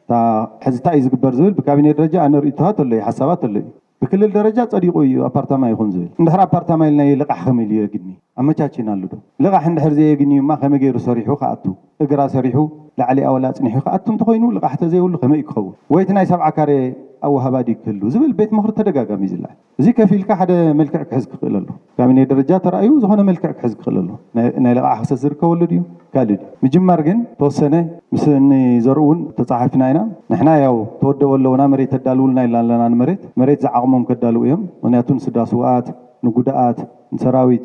እታ ሕዚ ታይ እዩ ዝግበር ዝብል ብካቢኔ ደረጃ ኣነ ርእይቶታት ኣሎ'ዩ ሓሳባት ኣሎ'ዩ ብክልል ደረጃ ጸዲቁ እዩ ኣፓርታማ ይኹን ዝብል እንድሕር ኣፓርታማ ኢልናዮ ልቃሕ ከመይ ኢሉ የግኒ ኣመቻቺናሉ ዶ ልቃሕ እንድሕር ዘየግንዩማ ከመይ ገይሩ ሰሪሑ ክኣቱ እግራ ሰሪሑ ላዕሊኣ ወላ ኣጽኒሑ ክኣቱ እንተኾይኑ ልቃሕ ተዘይብሉ ከመይ እዩ ክኸውን ወይ እቲ ናይ ሰብዓ ካሬ ኣወሃባ ድዩ ክህሉ ዝብል ቤት ምኽሪ ተደጋጋሚ እዩ ዝልዓል እዚ ከፍ ኢልካ ሓደ መልክዕ ክሕዝ ክኽእል ኣለዎ። ብካቢኔ ደረጃ ተራእዩ ዝኾነ መልክዕ ክሕዝ ክኽእል ኣለዎ። ናይ ልቓሕ ክሰት ዝርከበሉ ድዩ ካልእ ድዩ? ምጅማር ግን ተወሰነ ምስ እኒ ዘርኡ እውን ተፀሓፊፍና ኢና። ንሕና ያው ተወደቡ ኣለውና መሬት ተዳልውልና ኢልና ኣለና ንመሬት። መሬት ዝዓቕሞም ከዳልዉ እዮም። ምኽንያቱ ንስድራ ስውኣት፣ ንጉዳኣት፣ ንሰራዊት፣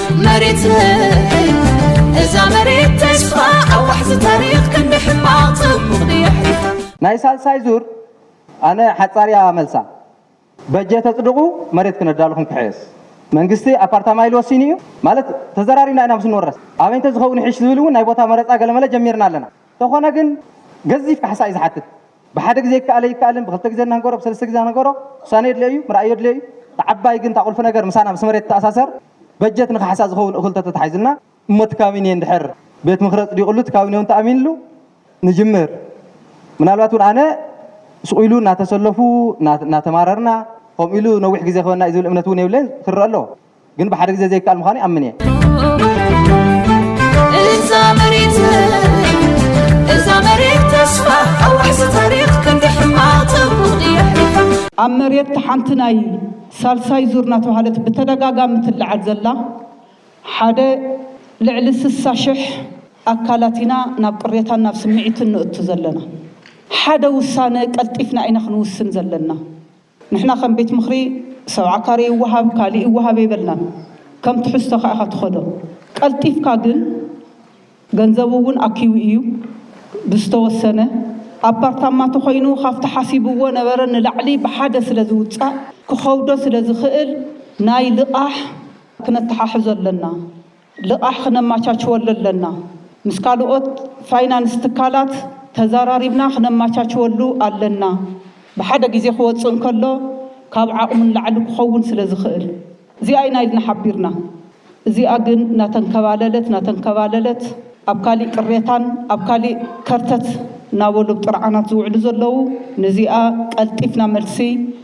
መሬተይ እዛ መሬት ተስፋ ኣብ ዋሕዚ ታሪኽ ክንዲ ሕማቕ ጽቡቕ ድያሕሪ ናይ ሳልሳይ ዙር ኣነ ሓጻርያ መልሳ በጀት ኣጽድቑ መሬት ክነዳልኹም ክሕየስ መንግስቲ ኣፓርታማ ኢሉ ወሲኑ እዩ ማለት ተዘራሪብና ኢና ምስ ንወረስ ኣበይ እንተዝኸውን ይሕሽ ዝብል እውን ናይ ቦታ መረፃ ገለመለ ጀሚርና ኣለና ተኾነ ግን ገዚፍ ካሕሳ እዩ ዝሓትት ብሓደ ግዜ ይከኣል ኣይከኣልን ብክልተ ግዜ እናንገሮ ብሰለስተ ግዜ እናንገሮ ውሳነ የድልዮ እዩ፣ ምርኣይ የድልዮ እዩ። እታ ዓባይ ግን እታ ቁልፊ ነገር ምሳና ምስ መሬት ትተኣሳሰር በጀት ንካሕሳ ዝኸውን እኹል ተተታሒዙልና፣ እሞ እቲ ካቢኔ እንድሕር ቤት ምኽሪ ኣፅዲቑሉ እቲ ካቢኔ እውን ተኣሚንሉ ንጅምር ምናልባት እውን ኣነ ሱቕ ኢሉ እናተሰለፉ እናተማረርና ከምኡ ኢሉ ነዊሕ ግዜ ክህበና እዩ ዝብል እምነት እውን የብለይን ክረኣ ኣለዎ። ግን ብሓደ ግዜ ዘይከኣል ምዃኑ ይኣምን እየ። እዛ መሬት እዛ መሬት ተስፋ ኣዋይሲ ታሪኽ ክንዲ ሕማቕ ተንቡቕ እያ ኣብ መሬት ሓንቲ ናይ ሳልሳይ ዙር እናተባህለት ብተደጋጋሚ ትለዓል ዘላ ሓደ ልዕሊ ስሳ ሽሕ ኣካላት ኢና ናብ ቅሬታን ናብ ስምዒትን ንእቱ ዘለና። ሓደ ውሳነ ቀልጢፍና ኢና ክንውስን ዘለና። ንሕና ከም ቤት ምኽሪ ሰብዓ ካሬ ይወሃብ ካሊእ ይወሃብ ኣይበልናን ከም ትሕዝቶኻ ኢኻ ትኸዶ ቀልጢፍካ ግን ገንዘቡ እውን ኣኪቡ እዩ ብዝተወሰነ ኣፓርታማ ተኾይኑ ካፍቲ ሓሲብዎ ነበረ ንላዕሊ ብሓደ ስለ ዝውፃእ ክኸብዶ ስለ ዝኽእል ናይ ልቓሕ ክነተሓሕዞ ኣለና። ልቓሕ ክነማቻችወሉ ኣለና። ምስ ካልኦት ፋይናንስ ትካላት ተዛራሪብና ክነማቻችወሉ ኣለና። ብሓደ ግዜ ክወጽእ እንከሎ ካብ ዓቕሙ ንላዕሊ ክኸውን ስለ ዝኽእል። እዚኣ ኢና ኢልና ሓቢርና። እዚኣ ግን እናተንከባለለት እናተንከባለለት ኣብ ካሊእ ቅሬታን ኣብ ካሊእ ከርተት እናበሉ ኣብ ጥርዓናት ዝውዕሉ ዘለዉ ነዚኣ ቀልጢፍና መልሲ